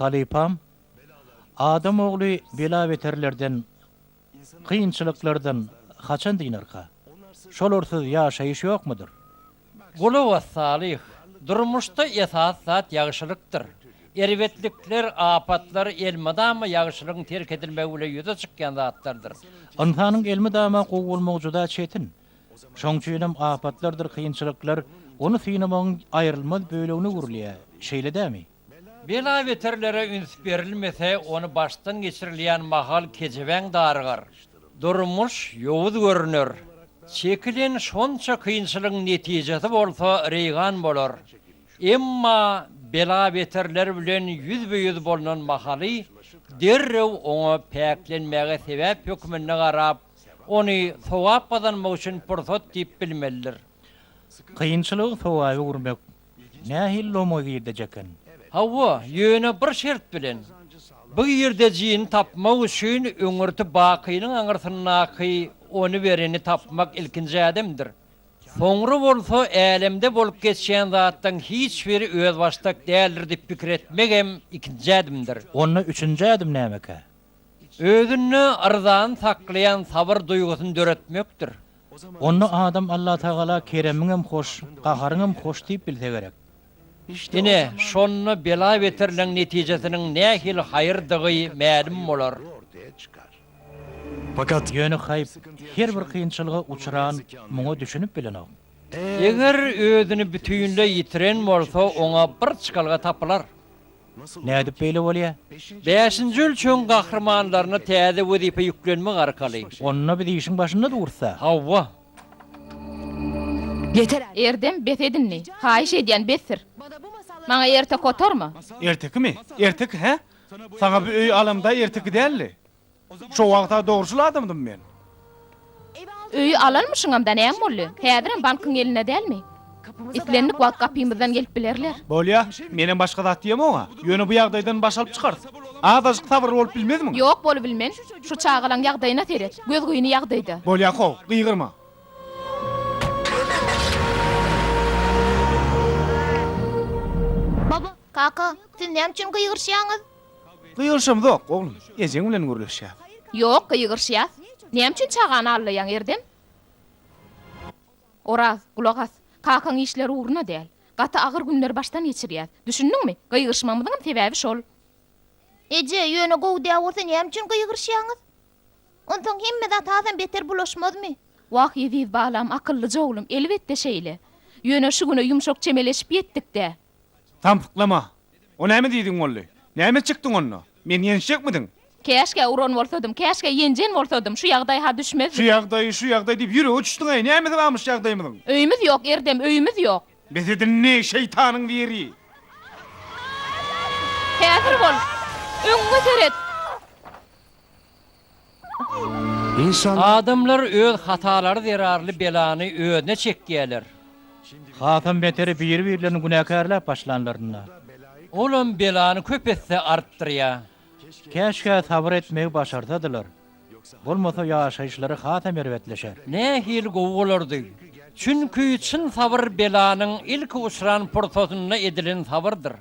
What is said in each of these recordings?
Halypam, Adam ogly bela-beterlerden Kynçylyklardan haçan dynarka? Şolarsyz ýaşaýyş ýokmudyr? Gulu we Salyh, Durmuşda esasy zat ýagşylykdyr. Erbetlikler, apatlar elmydama ýagşylygyň terk edilmegi bilen ýüze çykýan zatlardyr. Ynsanyň elmydama gowy bolmagy juda çetin. Şoň üçinem apatlardyr kynçylyklar ony synamagyň aýrylmaz bölegine öwrülýär, şeýle dämi? Bela-beterlere üns berilmese, ony başdan geçirilýän mahal kejebäň darygar. Durmuş ýowuz görüner. Çekilen şonça kynçylygyň netijesi bolsa reýgan bolar. Emma bela-beterler bilen ýüzbe-ýüz bolnan mahaly, derrew oňa päklenmäge sebäp hökmünde garap, ony sogap gazanmak üçin pursat diýip bilmelidir. Kynçylygy sogaba öwürmek, Nähili lomo girdej eken? Hawa, ýöne bir şert bilen. Bu girdejini tapmak üçin öňürti bakynyň aňyrsyndaky ony bereni tapmak ilkinji ädimdir. Soňra bolsa älemde bolup geçýän zatlaryň hiç biri özbaşdak däldir diýip pikir etmek hem ikinji ädimdir. Onda üçünji ädim nämekä? Özünde yrzany saklaýan sabyr duýgusyny döretmekdir. Onda adam Allatagala keremiň hem hoş, gaharyň hem hoş diýip bilse gerek. Ine, şonda bela-beterleň netijesiniň nähili haýyrdygy mälim bolar. Ýöne haýp, her bir kynçylyga uçran muňa düşünip bilenok. Eger özüni bütinleý ýitiren bolsa, oňa bir çykalga tapylar. Nädip beýle bolýa? Bäşinji ölçegiň gahrymanlaryna täze wezipe ýüklenmek arkaly. Onda biz işiň başynda dursa. Hawa. Erdem, bes edindi. Haýyş edýän, bes sir. Maňa erte kotorma. Ertekimi? Erteki, hä? Saňa bu öýi alamda erteki däldi. Şo wagta dogruçyl adamdym men. Öýi alanmyşyňam-da, näme boldy? Häzirem bankyň elinde dälmi? Islendik wagt gapymyzdan gelip bilerler. Bolýa, menem başga zat diýemok oňa. Ýöne bu ýagdaýdan baş alyp çykarys. Azajyk sabyrly bolup bilmezmiň? Ýok, bolubilmen. Şu çagalaň ýagdaýyna seret. Gözgyny ýagdaýda. Bolýa, how, gygyrma. Kaka, siz näme üçin gygyryşýaňyz? Gygyryşamzok, oglum. Ejeň bilen gürleşýäs. Ýok, gygyryşýas. Näme üçin çagany allaýaň, Erdem? Oraz, gulak as. Kakaň işleri ugruna däl. Gaty agyr günleri başdan geçirýäs. Düşündiňmi? Gygyryşmamyzyňam sebäbi şol. Eje, ýöne gowy däl bolsa näme üçin gygyryşýaňyz? Onsoň hemme zat hasam beter bulaşmazmy? Wah, eziz balam, akyllyja oglum, elbetde şeýle. Ýöne şu güne ýumşak çemeleşip ýetdik-dä. Samsyklama. O näme diýdigiň boldy? Näme çykdyň onda? Meni ýenişjekmidiň? Käşgä uran bolsadym, käşgä ýenjen bolsadym, şu ýagdaý-ha düşmezdi. Şu ýagdaý, şu ýagdaý diýip ýürege çüşdüň-aý, nämesi barmyş ýagdaýymyzyň? Öýümiz ýok, Erdem, öýümiz ýok. Bes edin indi, şeýtanyň biri! Häzir bol! Öňüňe seret! Adamlar öz hatalary zerarly belany özüne çekýärler. Hasam beteri biri-birlerini günäkärläp başlanlarynda. Olam belany köp esse artdyrýar. Käşgä sabyr etmegi başarsadylar. Bolmasa ýaşaýyşlary hasam erbetleşer. Nähili gowy bolardy. Çünki çyn sabyr belanyň ilki uçran pursatynda edilen sabyrdyr.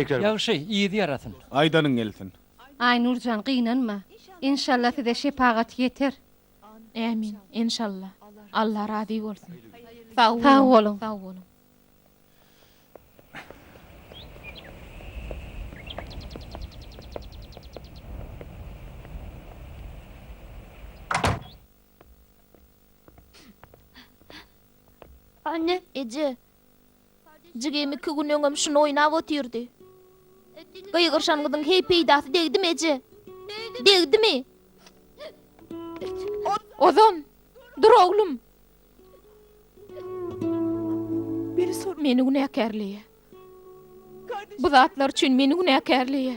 Ýagşy, yzy ýarasyn. Aýdanyň gelsin. Aýnurjan gynanma. Enşalla size şepagaty ýeter. Ämin. Enşalla. Alla razy bolsun. Sag boluň. Sag boluň. Anne. Eje. Jigim iki gün öňem şuny oýnap otyrdy. Gygyryşan gyzyň heý peýdasy degdimi, eje? Degdimi? Ozan, dur oglum. Meni günäkärleýä. Bu zatlar üçin meni günäkärleýä.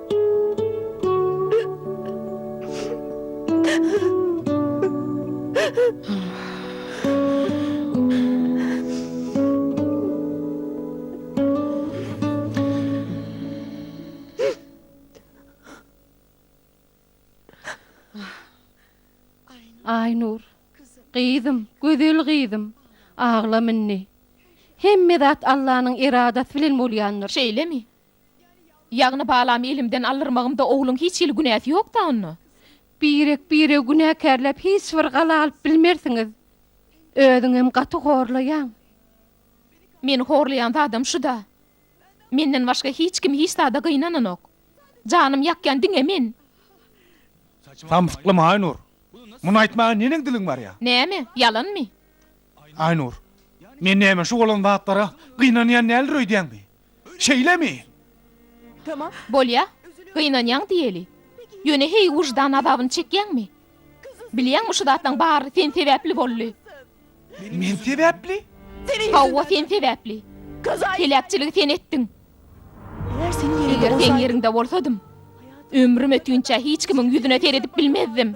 Aýnur, gyzym, gözel gyzym, aglama indi. Hemme zat Allanyň eradasy bilen bolýandyr. Şeýlemi? Ýagny balamy elimden aldyrmagymda ogluň hiç hili günäsi ýokda onda? Birek biregi günäkärläp hiç bir gala alyp bilmersiňiz. Özüňem gaty horlaýaň. Meni horlaýan zadam şuda. Menden başga hiç kim hiç zada gynananok. Janym ýakýan diňe men. Samsyklama Aýnur. Muny aýtmaga neneň diliň barýa? Näme? Ýalanmy? Aýnur. Men näme şu bolan zatlara gynanýan däldir öýdýäňmi? Şeýlemi? Bolýa, gynanýaň diýeli. Ýöne heý wyždan azabyny çekýäňmi? Bilýäňmi şu zatlaň bary sen sebäpli boldy. Men sebäpli? Hawa sen sebäpli. Heläkçiligi sen etdiň. Eger seň ýeriňde bolsadym, ömrüm ötünçä hiç kimiň ýüzüne seredip bilmezdim.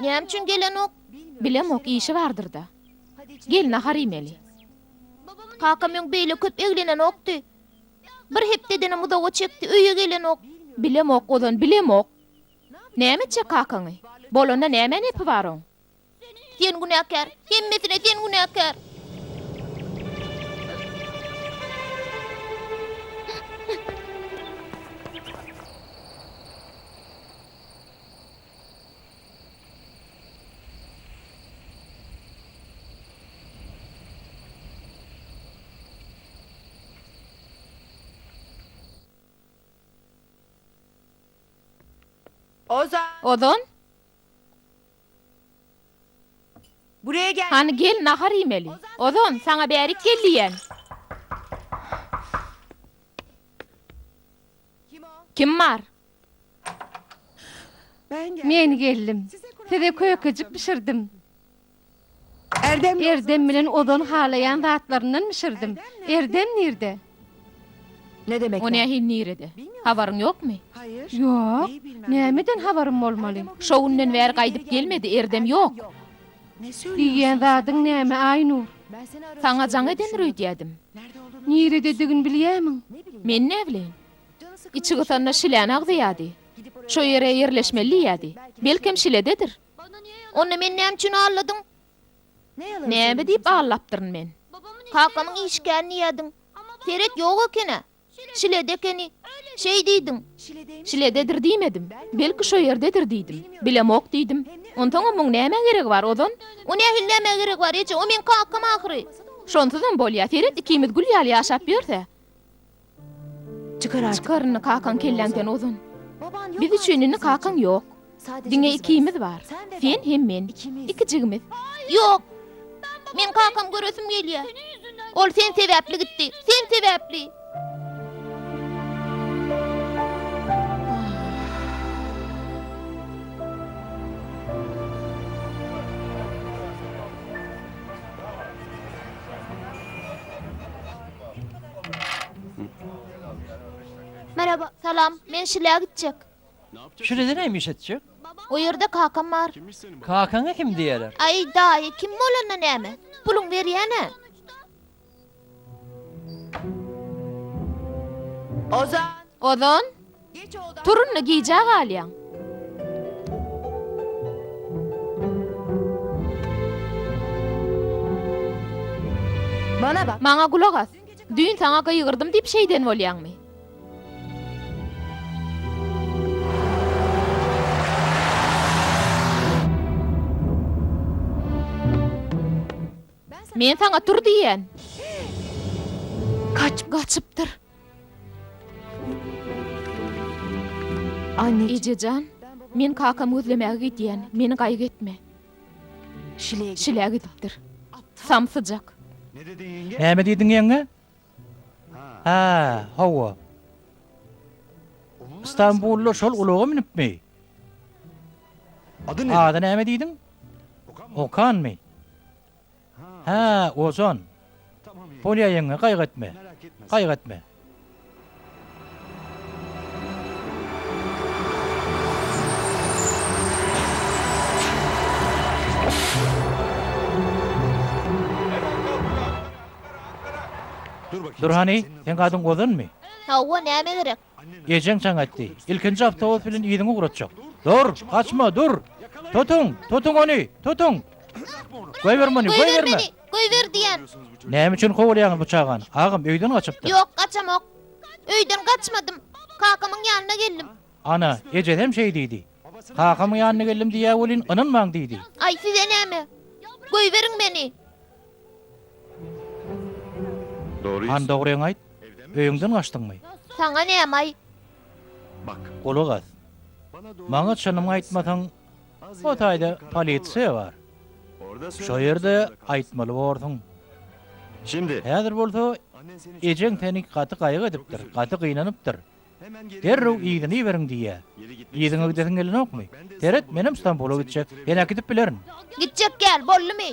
Näme üçin gelenok? Bilemok, işi bardyr-da. Gel, nahar iýmeli. Kakam öň beýle köp eglenenokdy. Bir hepdedenem uzaga çekdi, öýe gelenok. Bilemok, Ozan, bilemok. Näme etjek kakaňy? Bolanda nämäň epi bar oň? Sen günäkär! Hemmesine sen günäkär! Ozan! Hany gel nahar iýmeli. Ozan, saňa bärik gel diýýän. Kim bar? Men geldim. Size kökejik bişirdim. Erdem bilen ozal halaýan zatlaryndan bişirdim. Erdem nirde? O nähili nirede? Habaryň ýokmy? Ýok. Nämeden habarym bolmaly? Şo günden bäri gaýdyp gelmedi, Erdem ýok. Diýýän zadyň näme Aýnur? Saňa jaň edendir öýdýädim. Nirededigini bilýämiň? Men näbileýin. Içi gysanda şiläni agzaýardy. Şo ýere ýerleşmeli diýýärdi. Belkem şilededir. Onda meni näme üçin aldadyň? Näme diýip aldapdyryn men? Kakamyň işgäri diýýärdiň. Seret, ýok eken-ä. Şilede ekeni. Şeý diýdiň. Şilededir diýmedim. Belki şo ýerdedir diýdim. Bilemok diýdim. Onsoňam muň nämä geregi bar, ozan? O nähili nämä geregi bar, eje? O meň kakam ahyry. Şonsuzam bolýa. Seret, ikimiz gül ýaly ýaşap ýörs-ä. Çykar indi kakaň kelläňden ozun. Biz üçin indi kakaň ýok. Diňe ikimiz bar. Sen hem men. Iki jigimiz. Ýok! Meň kakam göresim gelýär. Ol sen sebäpli gitdi. Sen sebäpli! Merhaba, salam, men şilä gitjek. Şilede näme iş etjek? O ýerde kakam bar. Kakaňa kim diýerler? Aý, daýy, kim bolanda näme? Puluň berýän-ä. Ozan! Ozan! Tur indi gijä galýaň. Maňa gulak as. Düýn saňa gygyrdym diýip şeýden bolýaňmy? Men saňa tur diýýän. Gaçypdyr. Anne. Eje jan, men kakamy gözlemäge gidýän, meni gaýgy etme. Şile gidipdir. Samsyjak. Näme diýdiň ýeňňe? Ha, hawa. Stambully şol ulaga münüpmi? Ady näme diýdiň? Okanmy? Hä, ojan. Polýa ýeňňe, gaýgy etme. Gaýgy etme. Dur hany, seň adyň ozanmy? Hawa, näme gerek? Ejeň çaň atdy. Ilkinji awtobus bilen yzyňy ugratjak. Dur! Gaçma, dur! Tutuň! Tutuň ony! Tutuň! Goýber muny, goýber meni! Goýber diýýän! Näme üçin kowalýaňyz bu çagany? Agam öýden gaçypdyr. Ýok, gaçamok. Öýden gaçmadym. Kakamyň ýanyna geldim. Ana, ejesem şeý diýdi. Kakamyň ýanyna geldim diýýä welin, ynanmaň diýdi. Aý, size näme? Goýberiň meni! Han dogryňy aýt, öýüňden gaçdyňmy? Saňa nämaý? Gulak as. Maňa çynymy aýtmasaň, o taýda polisiýa bar. Şo ýerde aýtmaly borsuň. Häzir bolsa ejeň seni gaty gaýgy edipdir, gaty gynanypdyr. Derrew yzyny iberiň diýýä. Yzyňa gidesiň gelenokmy? Seret, menem Stambula gitjek. Sen äkidip bilerin. Gitjek däl, boldumy?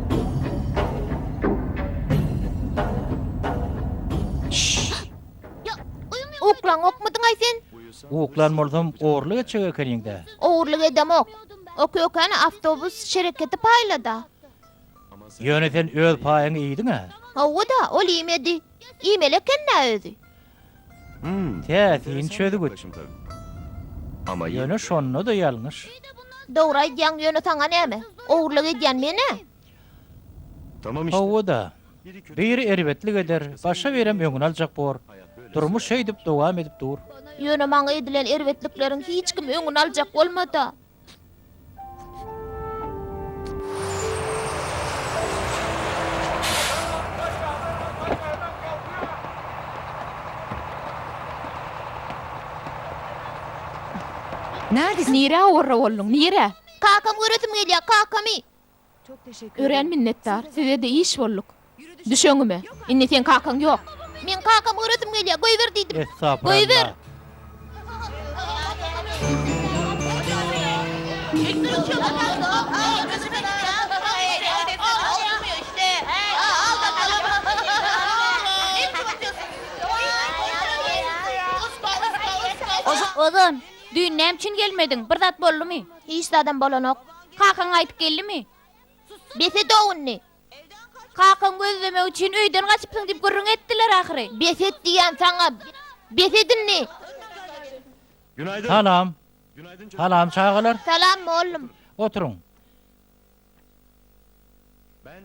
Uklaň okmydyňaý sen? Uklan bolsam ogurlyk etjek ekeniň-dä. Ogurlyk edemok. O kökeni awtobus şereketi paýlada. Ýöne sen öz paýyňy iýdiň-ä. Hawa-da, ol iýmedi. Iýmeli eken-dä özi. Hum, täsin çözgüt. Ýöne şonda-da ýalňyş. Dogry aýdýaň, ýöne saňa näme? Ogurlyk edýän men-ä. Hawa-da. Biri erbetlik eder, başga birem öňüni aljak bor. Durmuş şeýdip dowam edip dur. Ýöne maňa edilen erbetlikleriň hiç kim öňüni aljak bolmada. Nirä orra bolduň, nirä? Kakam göresim gelýär, kakamy! Örän minnetdar. Sizede iş bolduk. Düş öňüme. Indi seň kakaň ýok. Meň kakamy göresim gelýär. Goýber diýdim. Goýber! Ozan, düýn näme üçin gelmediň? Bir zat boldumy? Hiç zadam bolanok. Kakaň gaýdyp geldimi? Bes et ownny! Kakaň gözlemek üçin öýden gaçypsyň diýip gürrüň etdiler ahyry. Bes et diýýän saňa! Bes et indi! Salam! Salam çagalar! Salam mollum! Oturyň!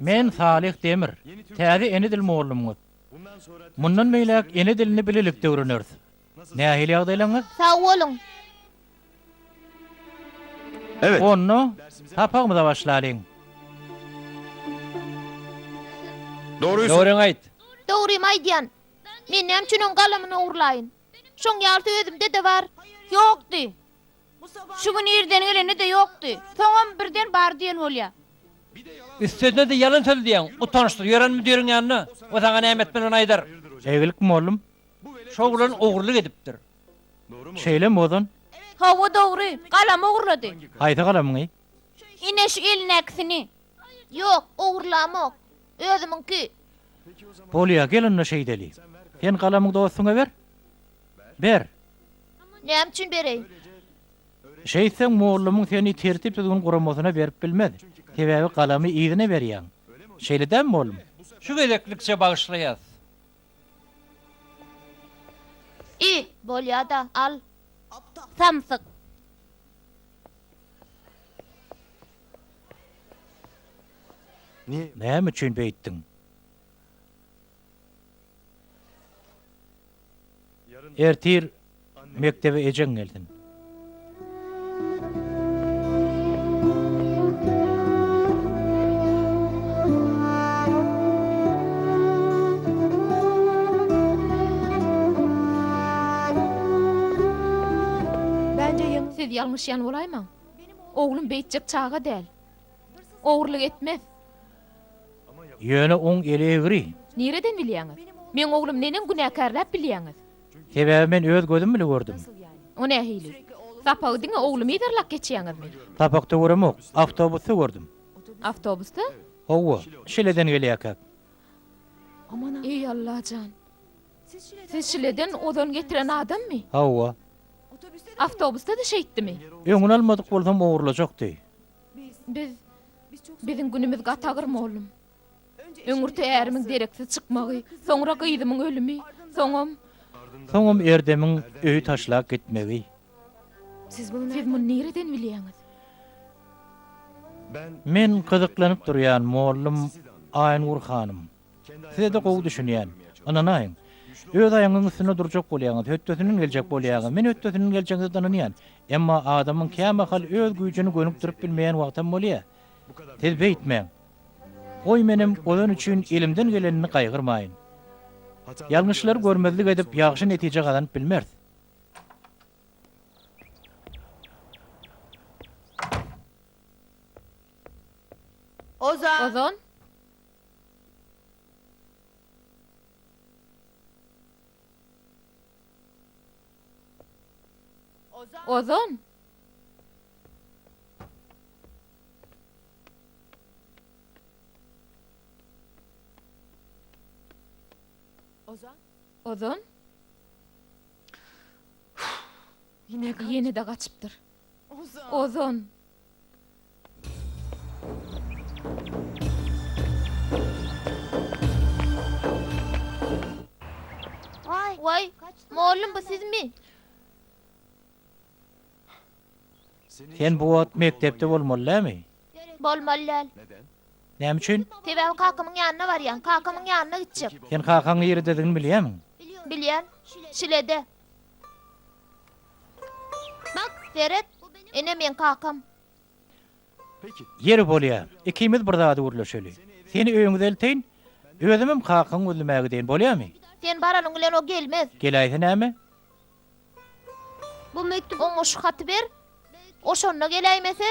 Men Salyh Demir, täze ene dil mollumyňyz. Mundan beýläk ene dilini bilelikde öwreneris. Nähili ýagdaýlaryňyz? Sag boluň. Onda sapagymyza başlalyň. Dogryňy aýt. Dogrymy aýdýan. Men näme üçin oň galamyny ogurlaýyn? Şoň ýalysy özümde-de bar. Ýokdy. Şu gün irden gelende-de ýokdy. Soňam birden bar diýen bolýa. Üstesine-de ýalan söz diýýäň. Utançsyz. Ýören müdiriň ýanyna. O saňa näme etmeli ony aýdar. Egilk mugallym Şo oglan ogurlyk edipdir. Şeýlemi ozan? Hawa dogry. Galam ogurlady. Haýsy galamyňy? Ine şu elindäkisini. Ýok, ogurlamok. Özümiňki. Bolýa, gel onda şeýdeli. Sen galamyňy dostuňa ber. Ber. Näme üçin bereý? Şeýtseň mollamyň seni tertip-düzgün guramasyna berip bilmez. Sebäbi galamy yzyna berýäň. Şeýle dämi mollam? Şu gezeklikçe bagyşlaýas. I, bolýa-da, al. Samsyk. Näme üçin beýtdiň? Ertir mekdebe ejeň gelsin. Siz ýalňyşýan bolaýmaň. Oglum beýtjek çaga däl. Ogurlyk etmez. Ýöne oň eli egri. Nireden bilýäňiz? Meň oglum neneň günäkärläp bilýäňiz? Sebäbi men öz gözüm bile gördüm. O nähili? Sapagy diňe oglumy yzarlap geçýäňizmi? Sapakda göremok. Awtobusda gördüm. Awtobusda? Hawa, Şileden gelýärkäk. Eý Allajan! Siz Şileden ozon getiren adammy? Hawa. Awtobusda-da şeýtdimi? Öňüni almadyk bolsam ogurlajakdy. Biz, biziň günümiz gaty agyr, mollum. Öňürti ärimiň dereksiz çykmagy, soňra gyzymyň ölümi, soňam. Soňam Erdemiň öýi taşlap gitmegi. Siz muny nireden bilýäňiz? Men gyzyklanyp durýan, mollum Aýnur hanym. Size-de gowy düşünýän. Ynanaýyň. Öz aýagyňyzyň üstünde durjak bolýaňyz, hötdesinden geljek bolýaňyz. Men hötdesinden geljegiňize-de ynanýan. Emma adamyň kämahal öz güýjüni gönükdirip bilmeýän wagtam bolýar. Siz beýtmäň. Goý menem ozan üçin elimden gelenini gaýgyrmaýyn. Ýalňyşlary görmezlik edip ýagşy netije gazanyp bilmeris. Ozan! Ozan! Ozan! Ýene-de gaçypdyr. Ozan! Waý, mollum bu sizmi? Sen bu wagt mekdepde bolmaly dälmi? Bolmaly däl. Näme üçin? Sebäbi kakamyň ýanyna barýan, kakamyň ýanyna gitjek. Sen kakaň nirdedigini bilýämiň? Bilýän. Şilede. Bak, seret! Ene meň kakam. Ýeri bolýa, ikimiz bir zady gürleşeli. Seni öýüňe elteýin, özümem kakaňy gözlemäge gideýin, bolýamy? Sen baranyň bilen o gelmez. Geläýse näme? Bu mekdüp oňa şu haty ber. O şonda geläýmese?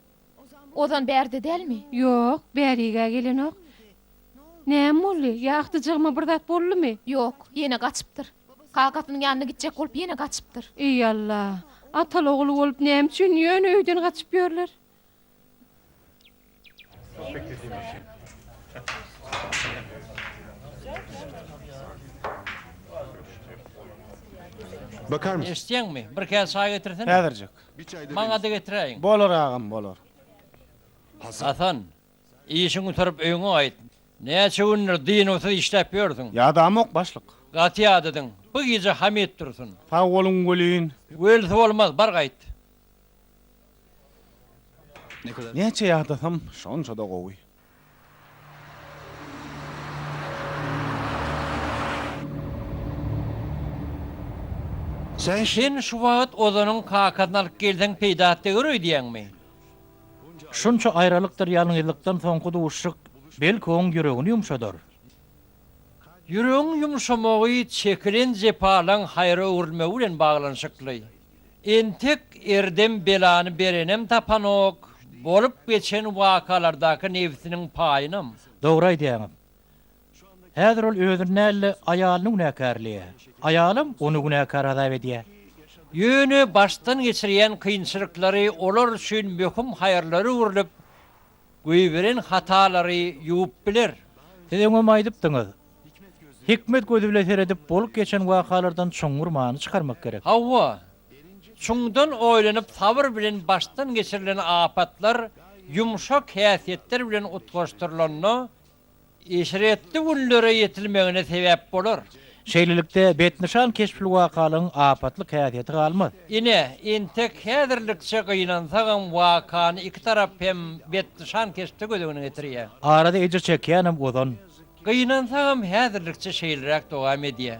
Ozan bärde dälmi? Ýok, bäri-gä gelenok. Näme boldy? Ýagtyjygyma bir zat boldumy? Ýok, ýene gaçypdyr. Kakasynyň ýanyna gitjek bolup ýene gaçypdyr. Eý, Alla! Ataly-ogul bolup näme üçin ýöne öýden gaçyp ýörler? Eşitýäňmi? Bir käse çaý getirsin. Häzirjik. Maňada getiräýiň. Bolar agam, bolar. Hasan, işiň gutaryp öýüňe gaýt. Näçe gündir dynuwsyz işläp ýörsüň? Ýadamok, başlyk. Gaty ýadadyň. Bu gije Hamyt dursun. Sag boluň welin. Welisi bolmaz, bar gaýt. Näçe ýadasam, şonça-da gowy. Sen şu wagt Ozanyň kakasyny alyp gelseň peýdasy degär öýdýäňmi? Şunça aýralykdyr ýalňyzlykdan soňky duşuşyk belki oň ýüregini ýumşadar. Ýüregiň ýumşamagy çekilen jepalaň haýra öwrülmegi bilen baglanyşykly. Entek erdem belany berenem tapanok, bolup geçen wakalardaky nebsiniň paýynam. Dogry aýdýaňyz. Häzir ol özüni däl-de, aýalyny günäkärleýär. Aýalam ony günäkär hasap edýär. Ýöne başdan geçirýän kynçylyklary olar üçin möhüm haýyrlara öwrülip, Goýberen hatalary ýuwup biler. Siz öňem aýdypdyňyz. Hikmet gözi bilen seredip bolup geçen wakalardan çuňňur many çykarmak gerek. Hawa. Çuňdan oýlanyp sabyr bilen başdan geçirilen apatlar ýumşak häsiýetler bilen utgaşdyrylanda eşretli günlere ýetilmegine sebäp bolar. Şeýlelikde, betnyşan keşpülwakalaryň apatlyk häsiýeti galmaz. Ine, entek häzirlikçe gynansagam, wakany iki tarap hem betnyşan keşpde göz öňüne getirýär. Arada ejir çekýänem ozan. Gynansagam, häzirlikçe şeýleräk dowam edýär.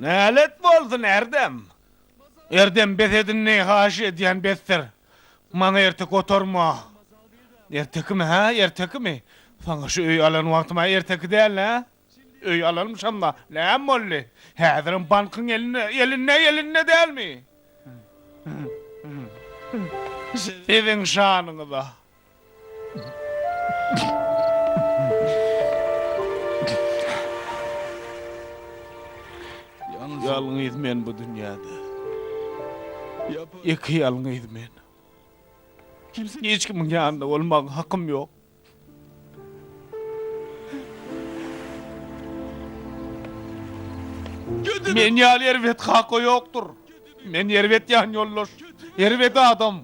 Nälet bolsun Erdem! Erdem bes edinni haýyş edýän besdir. Maňa erte gotorma. Ertekimi hä ertekimi? Saňa şu öýi alan wagtym-a erteki dälnä? Öýi alanmyşam-da näme boldy? Häzirem bankyň elinde elinde elinde dälmi? Siziň şanyňyza. Ýalňyz men bu dünýäde. Ýeke ýalňyz men. Hiç kimiň ýanynda bolmaga hakym ýok. Men ýaly erbet kaka ýokdur. Men erbet ýanýoldaş, erbet adam.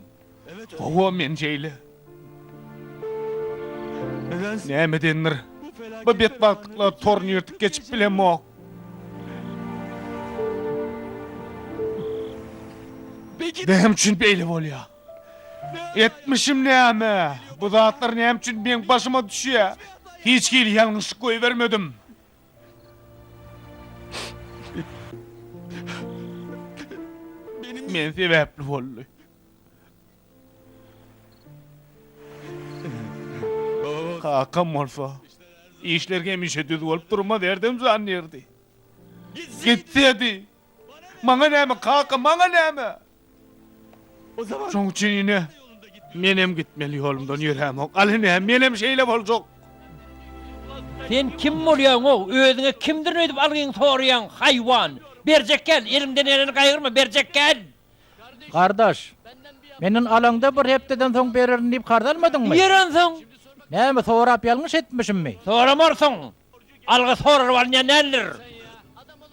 Hawa, men şeýle. Nämedendir, bu betbagtlyklar toruny ýyrtyp geçip bilemok. Näme üçin beýle bolýar? Etmişim näme? Bu zatlar näme üçin meň başyma düşýär? Hiç hili ýalňyşlyk goýbermedim. Men sebäpli boldy. Kakam bolsa, işler hemişe düz bolup durmaz, herdem jan ýerdi. Gitsedi. Maňa näme, kaka, maňa näme? Şoň üçin, ine, menem gitmeli ýolumdan ýörämok. Al, ine, menem şeýle boljak. Sen kim bolýaň-ow? Özüňe kimdirin öýdüp algyňy soraýaň, haýwan! Berjek gel, eliňden geleni gaýgyrma, berjek gel! Gardaş, menden alaňda bir hepdeden soň bererin diýip karz almadyňmy? Berensoň? Näme, sorap ýalňyş etmişimmi? Soramarsyň! Alga soralyp alynýan däldir.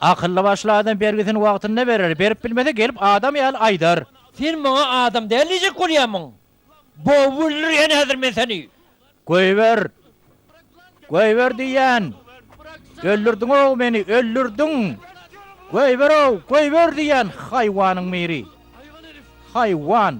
Akylly başly adam bergisini wagtynda berer, berip bilmese gelip adam ýaly aýdar. Sen maňa adam däl diýjek bolýarmyň? Bowup öldürýän häzir men seni. Goýber! Goýber diýýän! Öldürdiň-ow meni, öldürdiň! Goýber-ow, goýber diýýän haýwanyň biri. Haýwan!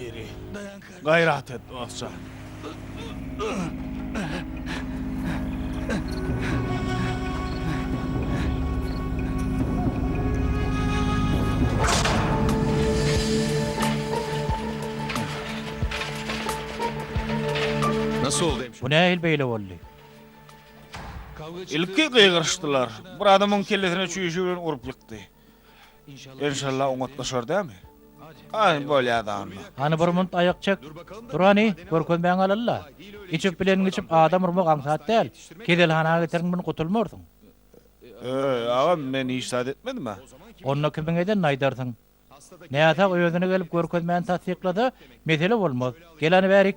Diri. Dayan kardeş. Gayrat et dostça. Nasıl oldu hemşire? Bu nähil beýle boldy? Ilki gygyryşdylar. Bir adamyň kellesine çüýşe bilen urup ýykdy. Enşalla oňatlaşar dämi? Aý, bolýa-da onda. Hany bir munt aýak çek. Dur hany, görkezmäňi alal-la. Içip bileniňi içip adam urmak aňsat däl. Keselhana geterin muny gutulmarsyň. Öý, agam, men hiç zat etmedim-ä. Onda kimiň edenini aýdarsyň. Näsag özüne gelip görkezmäni tassyklasa, mesele bolmaz. Gel hany bärik.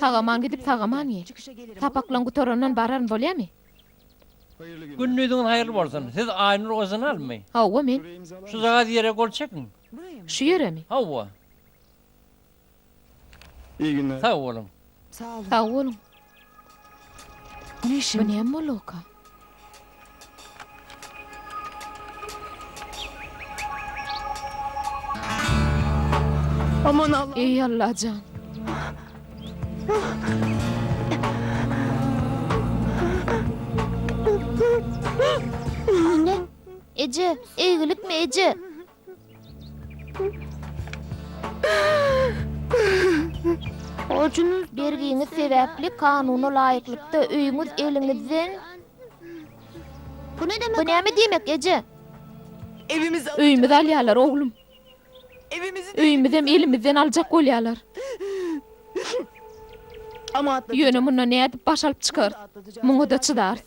Sag-aman gidip, sag-aman gel. Sapaklaň gutarandan bararyn, bolýamy? Gündiziňiz haýyrly bolsun. Siz Aýnur Ozanalmy? Hawa, men. Şuzagaz ýere gol çekiň. Şu ýeremi? Hawa. Sag boluň. Sag boluň. Bu näme boldugyka? Eý Allajan! Eje, eýgilikmi, eje? Borjunyz, bergiňiz sebäpli kanuna laýyklykda öýüňiz eliňizden Bu näme diýmek, eje? Öýümizi alýarlar, oglum. Öýümizem elimizden aljak bolýarlar. Ýöne mundan nädip baş alyp çykarys? Muňa-da çydarys.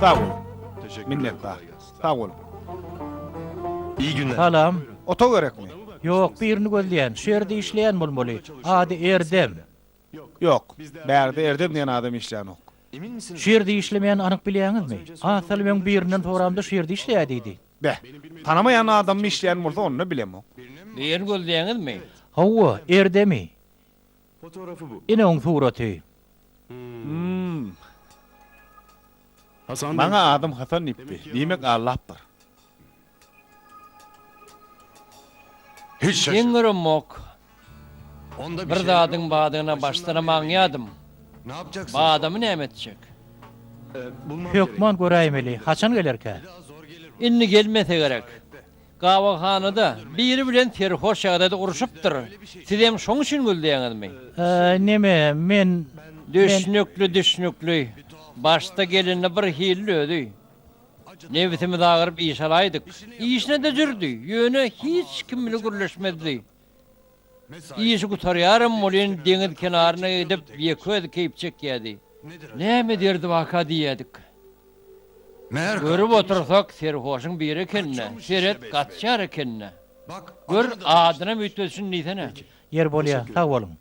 Sag bol. Minnetdar. Sag bol. İyi günler. Salam. Otag gerekmi? Ýok, birini gözleýän. Şu ýerde işleýän bolmaly. Ady Erdem. Ýok. Bärde Erdem diýen adam işleýänok. Şu ýerde işlemeýän anyk bilýäňizmi? Az salym öň birinden soramda şu ýerde işleýär diýdi. Beh, tanamaýan adammy işleýän bolsa onda bilemok. Bu ýerini gözleýäňizmi? Hawa, erdemi? Ine oň suraty. Hum. Maňa adam Hasan diýipdi. Diýmek aldapdyr. Geň göremok. Bir zadyň badyna başdan-a maňýadym. Badamy näme etjek? Hökman göräýmeli. Haçan gelerkä? Indi gelmese gerek. Gabawhanada biri bilen serhoş ýagdaýda urşupdyr. Sizem şoň üçin gülläňizmi? Neme, men, men. Düşnükli, düşnükli. Başda gelende bir hilli özi. Nebsimiz agyryp iş alaýdyk. Işine-de jürdi, ýöne hiç kim bile gürleşmezdi. Işi gutarýaram welin deňiz kenaryna gidip ýeke-özi keýp çekýädi. Näme ederdiwaka diýýädik. Görüp otursak serhoşyň biri eken-dä, seret, gaçýar eken-dä. Gör, adynam üýtgedişini diýsene. Ýer bolýa, sag boluň.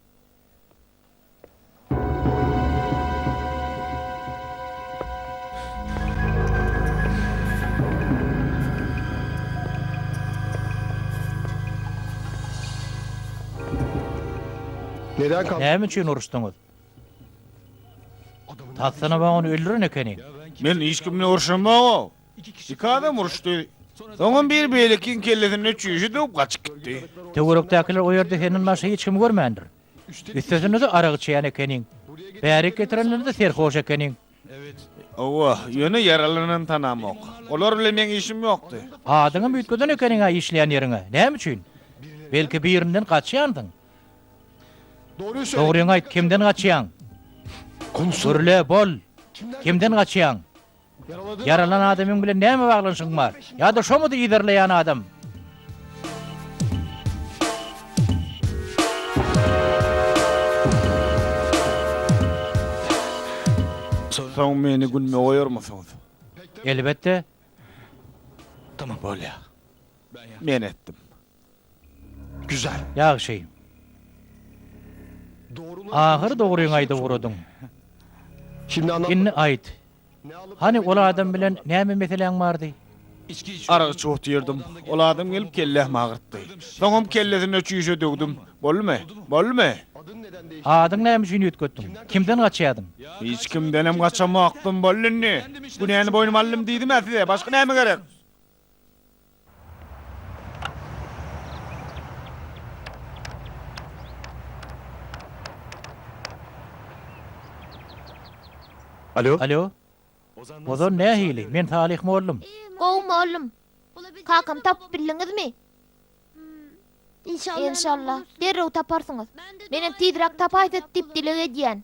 Näme üçin uruşdyňyz? Tassynaba ony öldüren ekeniň. Men hiç kim bilen urşamok-ow. Iki adam uruşdy. Soňam biri beýlekiniň kellesine çüýşe döwüp gaçyp gitdi. Töwerekdäkiler o ýerde senden başga hiç kimi görmändir. Üstesine-de arak içýän ekeniň. Bärik getireninde serhoş ekeniň. Hawa, ýöne ýaralanany tanamok. Olar bilen meň işim ýokdy. Adyňam üýtgeden ekeniň-ä işleýän ýeriňe. Näme üçin? Belki birinden gaçýandyň? Dogryňy aýt, kimden gaçýaň? Gürle, bol! Kimden gaçýaň? Ýaralan adamyň bilen näme baglanyşygyň bar? Ýa-da şomudy yzarlaýan adam? Soň meni gülme goýarmysyňyz? Elbetde. Tamam, bolýar. Men etdim. Güzel. Ýagşy. Ahyry dogryňy aýdyp ugradyň. Indi aýt. Hany ol adam bilen näme meseläň bardy? Aragy çoh diýerdim. Ol adam gelip kellämi agyrtdy. Soňam kellesine çüýşe döwdüm. Boldumy? Boldumy? Adyňy näme üçin üýtgetdiň? Kimden gaçýardyň? Hiç kimdenem gaçamokdym. Boldy indi. Günäni boýnuma aldym diýdim-ä size. Başga näme gerek? Alo. Ozan nähili? Men Salyh mollum. Gowy mollum. Kakamy tapyp bildiňizmi? Enşalla, derrew taparsyňyz. Menem tizräk tapaýsat diýip dileg edýän.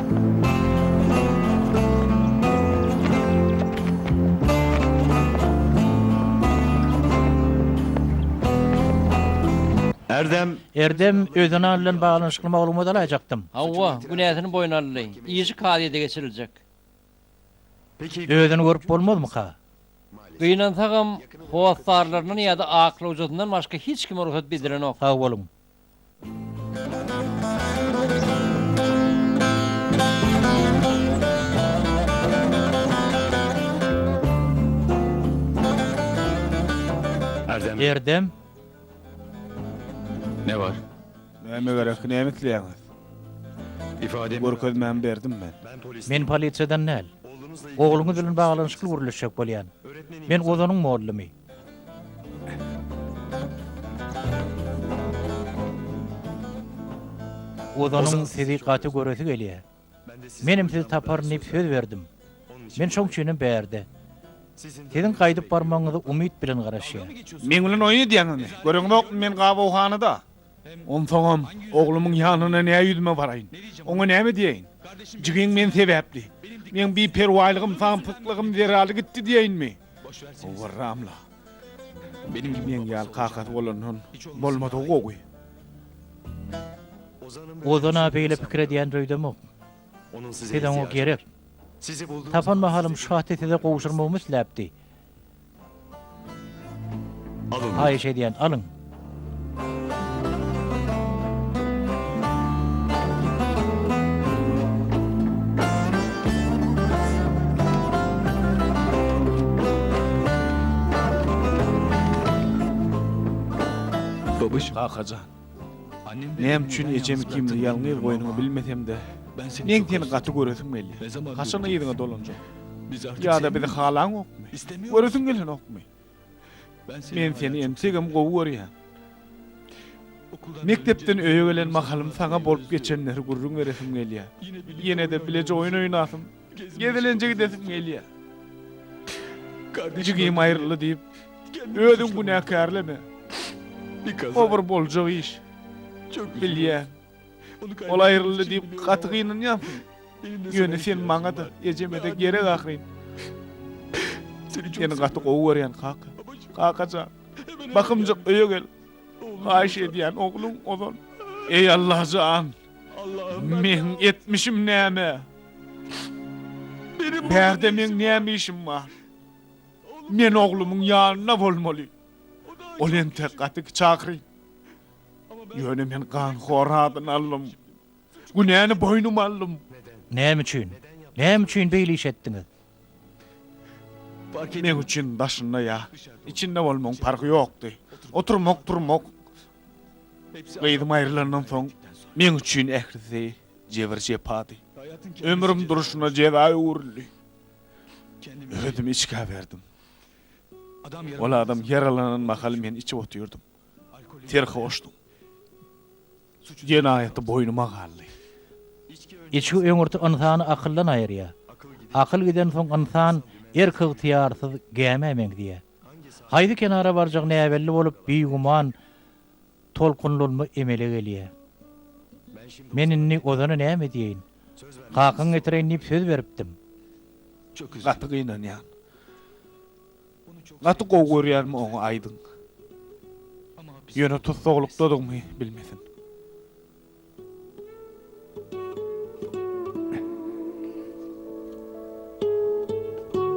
Erdem! Erdem, özüne alnan baglanyşykly maglumat alaýjakdym. Hawa, günäsini boýun aldy. Işi kazyýete geçiriljek. Özüni görüp bolmazmyka? Gynansagam, hossarlaryndan ýa-da aklawjysyndan başga hiç kime rugsat bedilenok. Sag boluň. Erdem. Ne bar? Näme gerek, näme isleýäňiz? Ifademi görkezmämi berdim men. Men polisiýadan däl. Ogluňyz bilen baglanyşykly gürleşjek bolýan. Men Ozanyň mollymy. Ozanyň sizi gaty göresi gelýär. Menem sizi taparyn diýip söz berdim. Men şoň üçinem bärde. Siziň gaýdyp barmagyňyzy umyt bilen garaşýar. Meň bilen oýun edýäňizmi? Göreňizokmy, men gabawhanada. Onsoňam, oglumyň ýanyna nä ýüzüme baraýyn? Oňa näme diýeýin? Jigim men sebäpli, meň biperwaýlygym, samsyklygym zerarly gitdi diýeýinmi? Howwarram-la. Meň ýaly kakasy bolandan bolmady-ow gowy. Ozan-a beýle pikir edýän öýdemok. Siz oňa gerek. Tapan mahalym şu haty size gowşurmagymy isläpdi. Haýyş edýän alyň. Babyş. Kakajan. Näme üçin ejem ikimizi ýalňyz goýanyňy bilmesem-de, meň seni gaty göresim gelýär. Haçan yzyňa dolanjak? Ýa-da bizi halaňokmy? Göresiň gelenokmy? Men seni entegem gowy görýän. Mekdepden öýe gelen mahalym saňa bolup geçenleri gürrüň beresim gelýär. Ýene-de bileje oýun oýnasym, Gezelenje gidesim gelýär. Jigim aýryldy diýip, özüň günäkärleme. O bir boljak iş. Bilýän. Ol aýryldy diýip gaty gynanýansyň. Ýöne sen maňa-da, ejeme-de gerek ahyryn. Seni gaty gowy görýän, kaka. Kaka jan, bakymjak öýe gel. Haýyş edýän, ogluň ozal. Eý Alla jan! Meň etmişim näme? Bärde meň näme işim bar? Men oglumyň ýanynda bolmaly. Ol entek gaty çakyr. Ýöne men ganhor adyny aldym. Günäni boýnuma aldym. Näme üçin? Näme üçin beýle iş etdiňiz? Meň üçin daşynda ýa içinde bolmagyň parhy ýokdy. Oturmak-turmak Gyzym aýrylandan soň meň üçin ählisi jebir-jepady. Ömrüm durşuna jeza öwrüldi. Özüm içgä berdim. Ol adam ýaralanan mahaly men içip otyrdym. Serhoşdym. Jenaýaty boýnuma galdy. Içgi öňürti ynsany akyldan aýyrýar. Akyl gidensoň ynsan erk-ygtyýarsyz gämä meňzeýär. Haýsy kenara barjagy näbelli bolup, bigüman tolkunlanma emele gelýär. Men indi Ozana näme diýeýin? Kakaň getireýin diýip söz beripdim. Gaty gynanýan. Gaty gowy görýänmi oňa aýdyň. Ýöne tussaglykdadygymy bilmesin.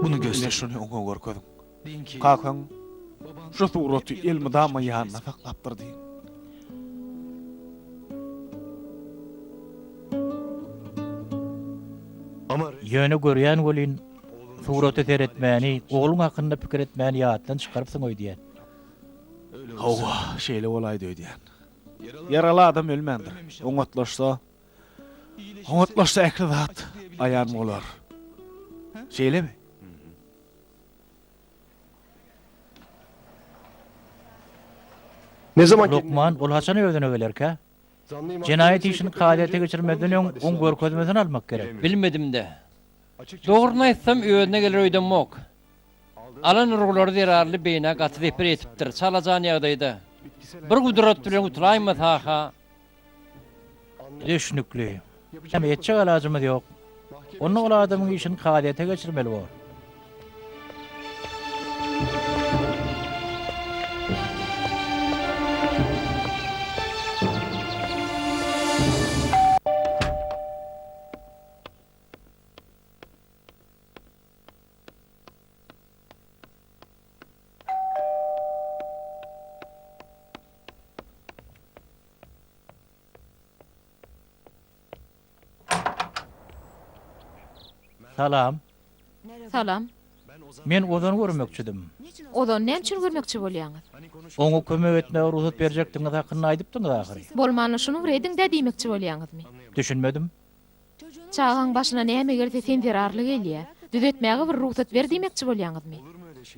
Muny göster. Şuny oňa görkeziň. Kakaň şu suraty elmydama ýanynda saklapdyr diýiň. Ýöne görýän welin, surata seretmäni, ogluň hakynda pikir etmäni ýatdan çykarypsyň öýdýän. Hawa, şeýle bolaýdy öýdýän. Ýaraly adam ölmändir. Oňatlaşsa, oňatlaşsa ähli zat aýan bolar. Şeýlemi? Lukman, ol haçan özüne gelerkä? Jenaýat işini kazyýete geçirmezden öň oň görkezmesini almak gerek. Bilmedim-dä. Dogryny aýtsam, özüne geler öýdemok. Alan urgulary zerarly beýnä gaty zeper ýetipdir. Çalajan ýagdaýda bir gudrat bilen gutulaýma Saha. Düşnükli. Näme etjek alajymyz ýok. Onda ol adamyň işini kazyýete geçirmeli bor. Salam. Salam. Men Ozany görmekçidim. Ozany näme üçin görmekçi bolýaňyz? Oňa kömek etmäge rugsat berjekdigiňiz hakynda aýdypdyňyz ahyry. Bolmanda şunuň rediň-dä diýmekçi bolýaňyzmy? Düşünmedim. Çagaň başyna näme gelse sen zerarly gelýä. Düzetmäge bir rugsat ber diýmekçi bolýaňyzmy?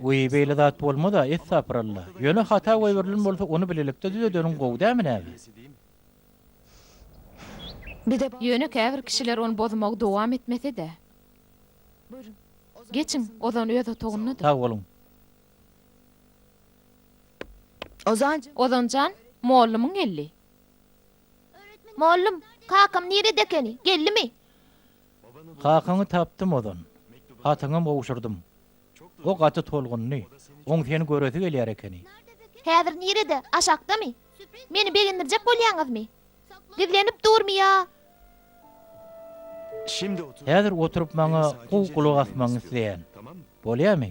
Wiý beýle zat bolmada essapyralla. Ýöne hata goýberilen bolsa ony bilelikde düzedeniň gowy dämi näme? Ýöne käbir kişiler ony bozmagy dowam etmesede. Geçiň, Ozan öz otagyndadyr. Sag boluň. Ozan jan, mollumyň geldi. Mollum, kakam nirede ekeni, geldimi? Kakaňy tapdym ozan. Hatyňam gowşurdym. O gaty tolgundy. Oň seni göresi gelýär ekeni. Häzir nirede, aşakdamy? Meni begendirjek bolýaňyzmy? Gizlenip durmy ýa? Häzir oturyp maňa gowy gulak asmagyňy isleýän. Bolýamy?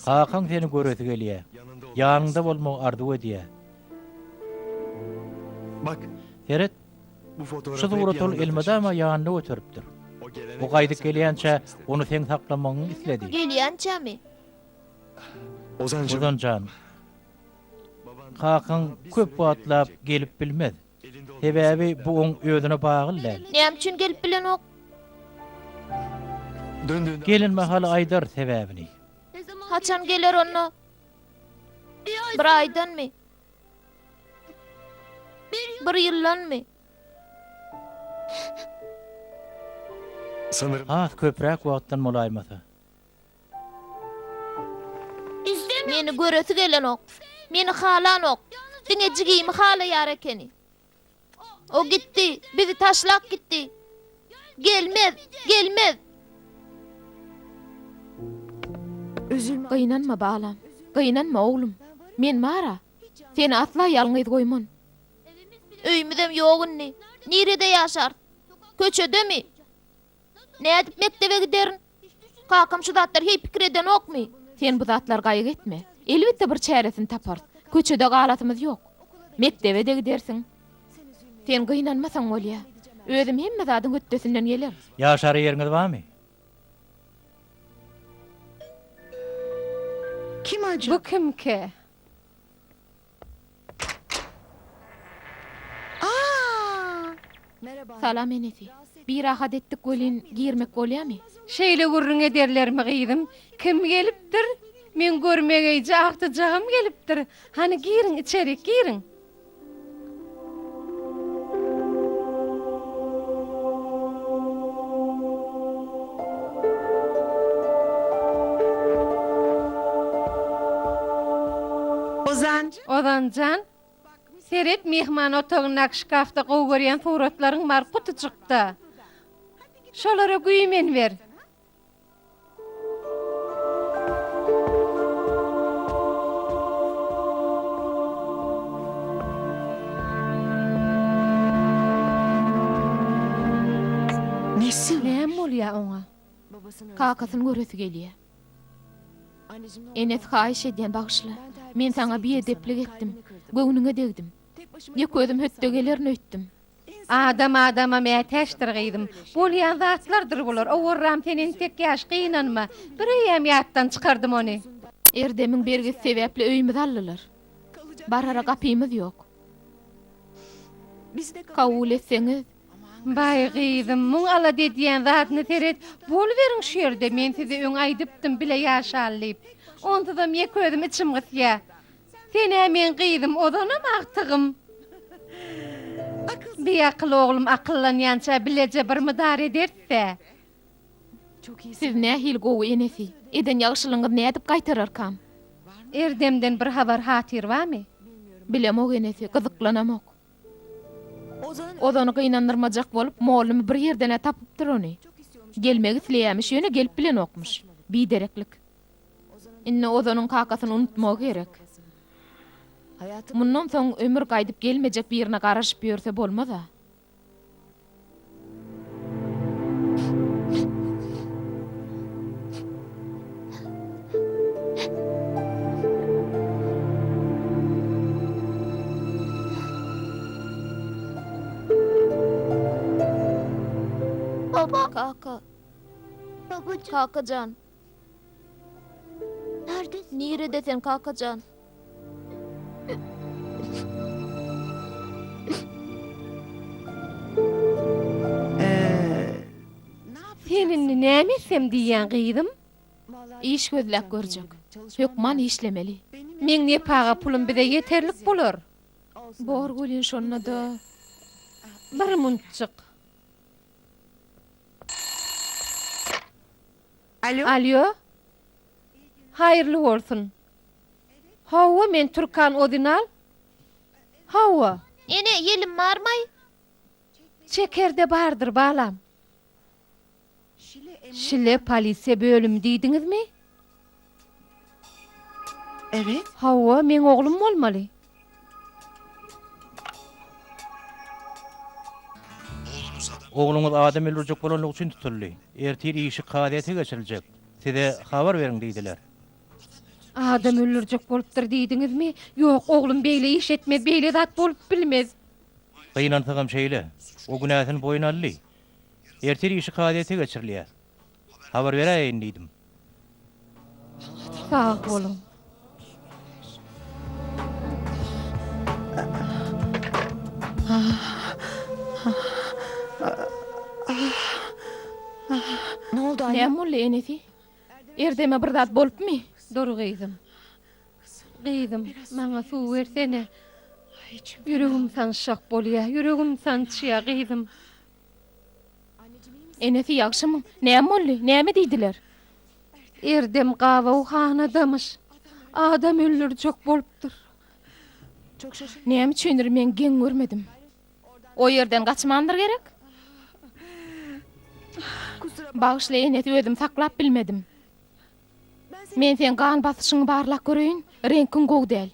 Kakaň seni göresi gelýä. Ýanyňda bolmagy arzuw edýä. Seret, şu suraty ol elmydama ýanyna göteripdir. O gaýdyp gelýänçä ony seň saklamagyňy isledi. Gelýänçämi? Ozan jan, kakaň köp wagtlap gelip bilmez. Sebäbi bu oň özüne bagly däl. Näme üçin gelip bilenok? Gelen mahaly aýdar sebäbini. Haçan geler onda? Bir aýdanmy? Bir ýyldanmy? Has köpräk wagtdan bolaýmasa. Meni göresi gelenok. Meni halanok. Diňe jigimi halaýar ekeni. O gitdi, bizi taşlap gitdi. Gelmez, gelmez. Gynanma, balam. Gynanma, oglum. Men bar-a. Seni asla ýalňyz goýman. Öýümizem ýok indi. Nirede ýaşarys? Köçedemi? Nädip mekdebe giderin? Kakam şu zatlary heý pikir edenokmy? Sen bu zatlary gaýgy etme. Elbetde bir çäresini taparys. Köçede galasymyz ýok. Mekdebe-de gidersiň. Sen gynanmasaň bolýa. Özüm hemme zadyň hötdesinden geler. Ýaşara ýeriňiz barmy? Bu kimki? Salam enesi. Birahat etdik welin girmek bolýamy? Şeýle gürrüň ederlermi gyzym? Kim gelipdir? Meň görmegeýje agtyjagym gelipdir. Hany giriň içerik giriň. Ozanjan, seret, myhman otagyndaky şkafda gowy görýän suratlaryň bar, gutyjykda. Şolara güýmen ber. Näme bolýar oňa? Kakasyny göresi gelýär. Enes haýyş edýän bagyşla. Men saňa biedeplik etdim. Göwnüňe degdim. Ýek özüm hötde gelerin öýtdüm. Adam adama mätäçdir gyzym. Bolýan zatlardyr bular. Owarram sen entek ýaş gynanma. Bir eýýäm ýatdan çykardym ony. Erdemiň bergisi sebäpli öýümizi aldylar. Barara gapymyz ýok. Kabul etseňiz. Baý gyzym, muň alada edýän zadyna seret, boluberiň şu ýerde, men size öň aýdypdym bile ýaşaly diýip. Onsuzam ýeke özüm içim gysýa. Sen-ä meň gyzym, ozanam agtygym. Biakyl oglum akyllanýança bileje bir mydar ederis-ä. Siz nähili gowy enesi. Eden ýagşylygyňyzy nädip gaýtararkam? Erdemden bir habar-hatyr barmy? Bilemok enesi, gyzyklanamok. Ozany gynandyrmajak bolup, mollumy bir ýerden-ä tapypdyr ony. Gelmek isleýämiş, ýöne gelip bilenokmyş. Bidereklik. Indi Ozanyň kakasyny unutmagy gerek. Mundan soň ömür gaýdyp gelmejek birine garaşyp ýörse bolmaz-a. Kaka. Kaka jan. Nirede sen kakajan? Sen indi näme etsem diýýäň, gyzym? Iş gözläp görjek. Hökman işlemeli. Meň nepaga pulum bize ýeterlik bolar. Bor welin şonda-da. Bir munçjyk. Alýo. Haýyrly bolsun. Hawa, men Türkan Ozynal. Hawa. Ene, ýelim barmaý? Çekerde bardyr, balam. Şile polisiýa bölümi diýdiňizmi? Evet. Hawa, meň oglum bolmaly. Ogluňyz adam öldürjek bolanlygy üçin tutuldy. Ertir işi kazyýete geçiriljek. Size habar beriň diýdiler. Adam öldürjek bolupdyr diýdiňizmi? Ýok, oglum beýle iş etmez, beýle zat bolup bilmez. Gynansagam şeýle. O günäsini boýun aldy. Ertir işi kazyýete geçirilýär. Habar beräýeýin diýdim. Sag boluň. Näme boldy, enesi? Erzeme bir zat bolupmy? Dur, gyzym. Gyzym, maňa suw bersene. Ýüregim sanşak bolýar, ýüregim sançýar, gyzym. Enesi ýagşymy? Näme boldy? Näme diýdiler? Erdem gabawhanadamyş. Adam öldürjek bolupdyr. Näme üçindir men geň görmedim. O ýerden gaçmandyr gerek? Bagyşla enesi özümi saklap bilmedim. Men seň gan basyşyňy barlap göreýin, reňkiň gowy däl.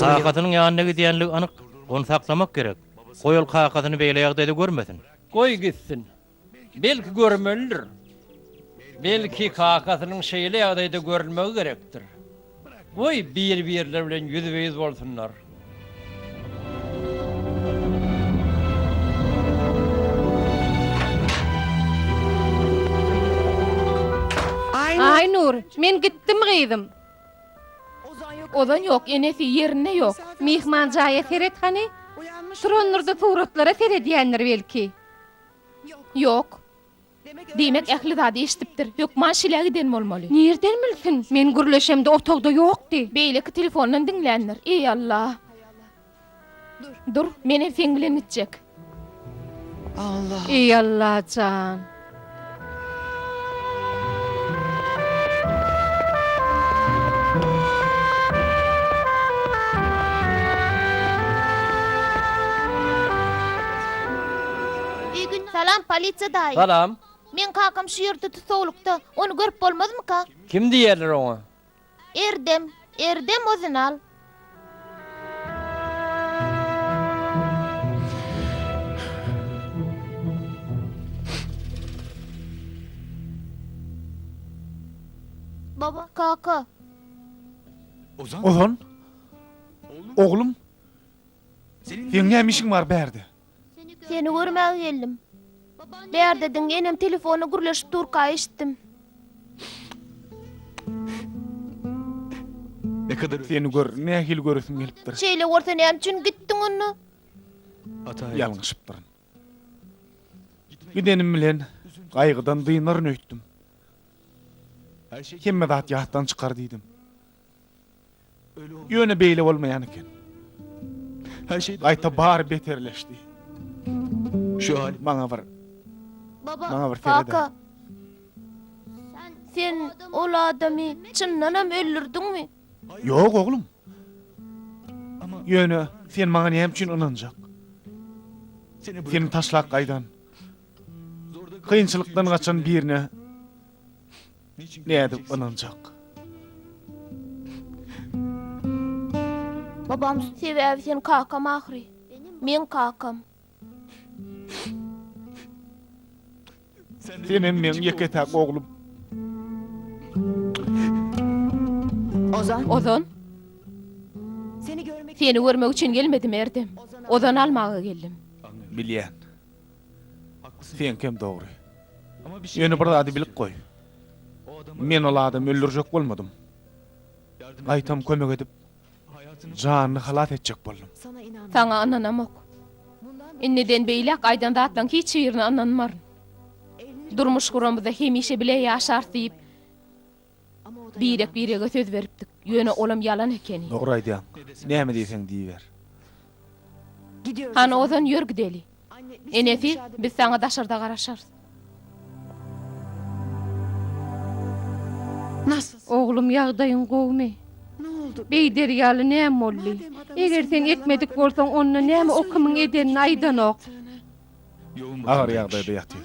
Kakasynyň ýanyna gidýänligi anyk, ony saklamak gerek. Goý ol kakasyny beýle ýagdaýda görmesin. Goý gitsin. Belki görmelidir. Belki kakasynyň şeýle ýagdaýda görülmegi gerekdir. Goý, bir-birleri bilen ýüzbe-ýüz bolsunlar. Aýnur, men gitdim gyzym. Ozan ýok, enesi ýerinde ýok. Myhman jaýa seret hany. Turandyr-da suratlara seredýändir belki. Ýok. Diýmek, ähli zady eşidipdir. Hökman şilä giden bolmaly. Nirden bilsin? Men gürleşemde otagda ýokdy. Beýleki telefondan diňländir. Eý, Alla! Dur, menem seň bilen gitjek. Eý, Alla jan! Salam, polisiýa daýy. Salam. Meň kakam şu ýerde tussaglykda. Ony görüp bolmazmyka? Kim diýerler oňa? Erdem, erdem ozüni al. Baba, kaka. Ozan? Oglum? Seň näme işiň bar bärde? Seni görmäge geldim. Bärde diň, enem telefonda gürleşip durka eşitdim. Seni gör, nähili göresim gelipdir. Şeýle bolsa näme üçin gitdiň onda? Ýalňyşypdyryn. Gidenim bilen gaýgydan dynaryn öýtdüm. Hemme zat ýatdan çykar diýdim. Ýöne beýle bolmaýan eken. Her şey gaýta bary beterleşdi. Şu haly maňa bir Baba, Maňa bir seret. Kaka. Sen ol adamy çyndanam öldürdiňmi? Ýok oglum. Ýöne sen maňa näme üçin ynanjak? Seni taşlap gaýdan, kynçylykdan gaçan birine Nädip ynanjak? Babam sebäbi sen kakam ahyry. Meň kakam. Senem meň ýeke-täk oglum. Ozan. Ozan. Seni görmek üçin gelmedim Erdem. Ozan almaga geldim. Bilýän. Seňkem dogry. Ýöne bir zady bilip goý. Men ol adamy öldürjek bolmadym. Gaýtam kömek edip, janyny halas etjek boldum. Saňa ynanamok. Indiden beýläk aýdan zatlaň hiç birine ynanmaryn. Durmuş guramyzda hemişe bile ýaşarys diýip, Birek-birege söz beripdik. Ýöne olam ýalan ekeni. Dogry aýdýaň. Näme diýseň diýiber. Hany ozan ýör gideli. Enesi, biz saňa daşarda garaşarys. Oglum, ýagdaýyň gowumy? Beý, derýaly näme boldy? Eger sen ekmedik bolsaň, onda näme o kimiň edenini aýdanok? Agyr ýagdaýda ýatyr.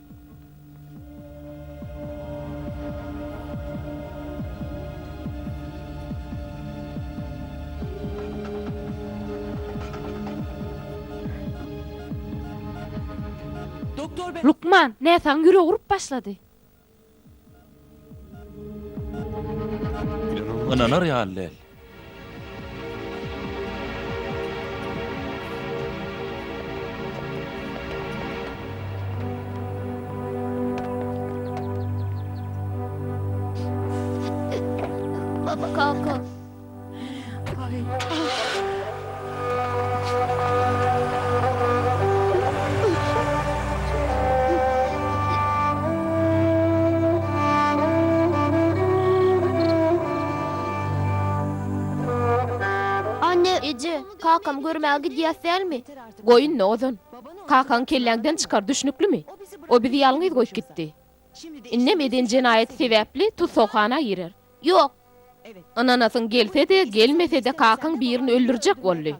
Lukman, näsagyň ýüregi urup başlady. Ynanar ýaly däl. Anne-eje, kakam görmäge gidýäs dälmi? Goý indi ozan. Kakaňy kelläňden çykar, düşnüklimi? O bizi ýalňyz goýup gitdi. Indem eden jenaýaty sebäpli tussaghana girer. Ýok. Ynanasyň gelse-de, gelmese-de kakaň birini öldürjek boldy.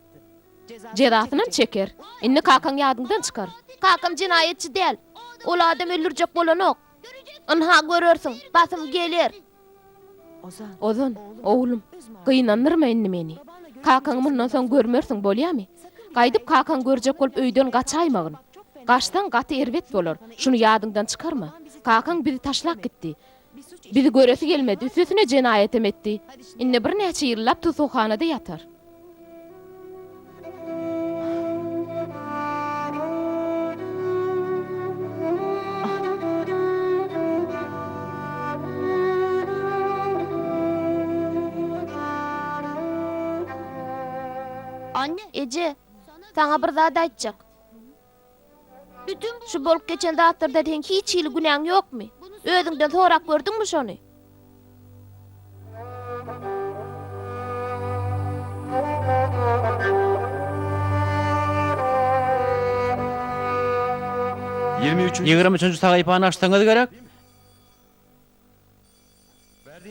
Jezasynam çeker. Indi kakaň ýadyňdan çykar. Kakam jenaýatçy däl. Ol adam öldürjek bolanok. Ynha, görersiň. Basym geler. Ozan, oglum, gynandyrma indi meni. Kakaňy mundan soň görmersiň, bolýamy? Gaýdyp kakaňy görjek bolup öýden gaçaýmagyn. Gaçsaň, gaty erbet bolar. Şuny ýadyňdan çykarma. Kakaň bizi taşlap gitdi. Bizi göresi gelmedi, üstesine jenaýatem etdi. Indi birnäçe ýyllap tussaghanada ýatar. Anne, eje, saňa bir zat aýtjak. Bütin şu bolup geçen zatlarda seň hiç hili günäň ýokmy? Özüňden sorap gördüňmi şony? Ýigrimi üçünji sahypany açsaňyz gerek?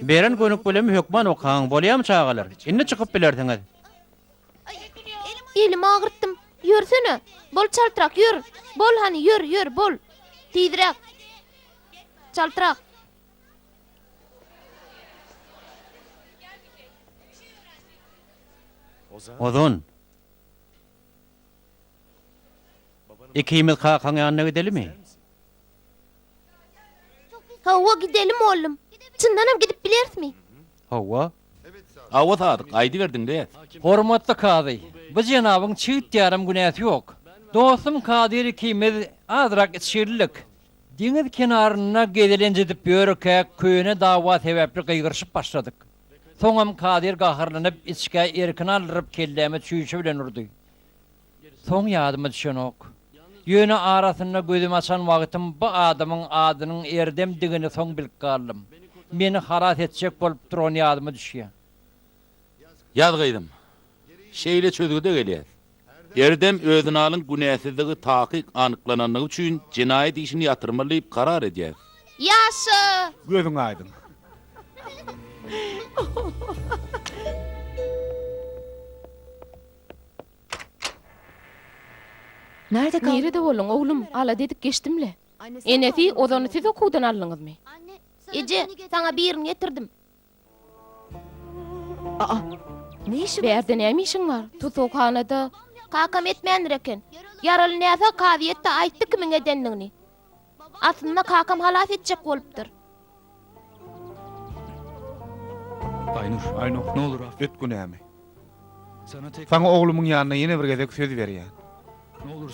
Beren gönükbilimi hökman okaň, bolýamy çagalar? Indi çykyp bilersiňiz. Elimi agyrtdym. Ýörsene! Bol çaltrak, ýör! Bol hany, ýör, ýör, bol! Tizräk! Çaltrak! Ozan! Ikimiz kakaň ýanyna gidelimi? Hawa, gidelim, oglum. Çyndanam gidip bilerismi? Hawa. Hawa, Sadyk, aýdyberdiň-le. Hormatly kazy, bu jenabyň çygt ýarym günäsi ýok. Dostum Kadyr ikimiz azrak içgirlik, deňiz kenarynda gezelenç edip ýörkäk köne dawa sebäpli gygyryşyp başladyk. Soňam Kadyr gaharlanyp, içgä erkini aldyryp kelläme çüýşe bilen urdy. Soň ýadyma düşenok. Ýöne arasynda gözümi açan wagtym bu adamyň adynyň Erdemdigini soň bilip galdym. Meni halas etjek bolup durany ýadyma düşýär. Ýaz gyzym. Şeýle çözgüde gelýäs. Erdem Özinalyň günäsizligi takyk anyklanandygy üçin jenaýat işini ýatyrmaly diýip karar edýär. Ýaşa! Gözüň aýdyň. Nirede bolduň, oglum? Alada edip geçdim-le. Enesi, ozany siz okuwdan aldyňyzmy? Eje, saňa birini getirdim. A-a. Ne işi bar? Bärde näme işiň bar? Tussaghanada. Kakam etmändir eken. Ýaraly näsag kazyýetde aýtdy kimiň edendigini. Aslynda kakam halas etjek bolupdyr. Aýnur. Aýnur, nolur af et günämi. Saňa oglumyň ýanynda ýene bir gezek söz berýän.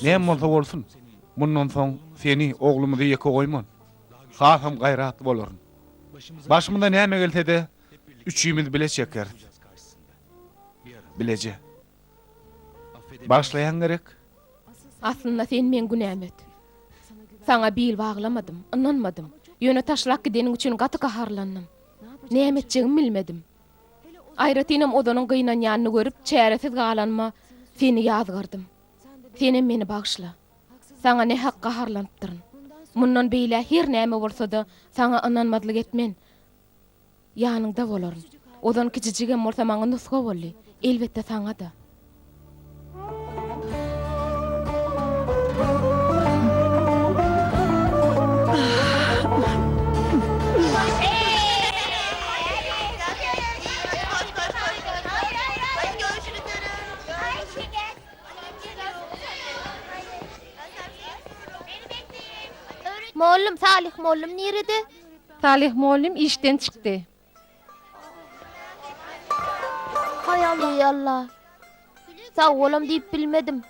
Näme bolsa bolsun, mundan soň seni, oglumyzy ýeke goýman, hasam gaýratly bolaryn. Başymyza näme gelse-de, üçimiz bile çekeris. Bileje. Bagyşlaýaň gerek? Aslynda sen meň günäm öt. Saňa bil baglamadym, ynanmadym. Ýöne taşlap gideniň üçin gaty gaharlandym. Näme etjegimi bilmedim. Aýratynam Ozanyň gynanýanyny görüp, çäresiz galanyma seni ýazgardym. Senem meni bagyşla. Saňa nähak gaharlanypdyryn. Mundan beýläk her näme bolsa-da, saňa ynanmazlyk etmen. Ýanyňda bolaryn. Ozan kijijigem bolsa maňa nusga boldy. Elbetde, saňa-da. Mollum, Salyh mollum nirede? Salyh mollum işden çykdy. Haý Alla, Alla. Sag bolam diýip bilmedim.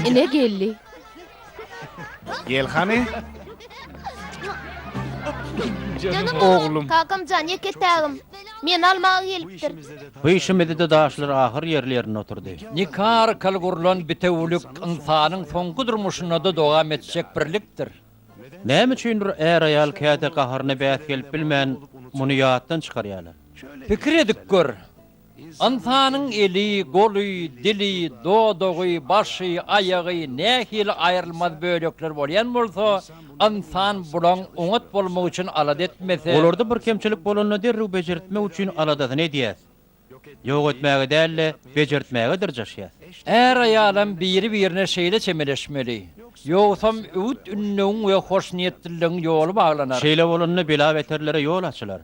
Ene geldi. Gel hany. Canım oğlum. Kakamcan yeketägim. Men almağa gelipdir. Bu işimizde daşlar ahyr yerli yerine oturdy. Nika arkaly gurlan bitewülik ynsanyň soňky durmuşynda-da dowam etjek birlikdir. Näme üçindir är-aýal käte gaharyna bäs gelip bilmän, muny ýatdan çykarýarlar. Pikir edip gör, Ynsanyň eli, goly, dili, dodagy, başy, aýagy nähili aýrylmaz bölekler bolýan bolsa, ynsan bulaň oňat bolmagy üçin alada etmese, Olarda bir kemçilik bolanda derrew bejertmek üçin aladasyny edýär. Ýok etmäge däl-de, bejertmäge dyrjaşýar. Är-aýalam biri-birine şeýle çemeleşmeli. Ýogsam öwüt-ündewiň we hoşniýetliligiň ýoly baglanar. Şeýle bolanda bela-beterlere ýol açylar.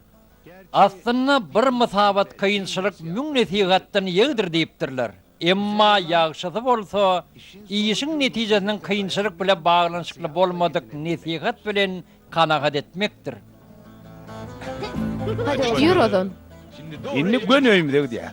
Aslynda bir mysabat kynçylyk müň nesihatdan ýegdir diýipdirler. Emma ýagşysy bolsa, işiň netijesiniň kynçylyk bile baglanyşykly bolmadyk nesihat bilen kanagat etmekdir. Hadi ýör ozan. Indi göni öýümize gidýäs.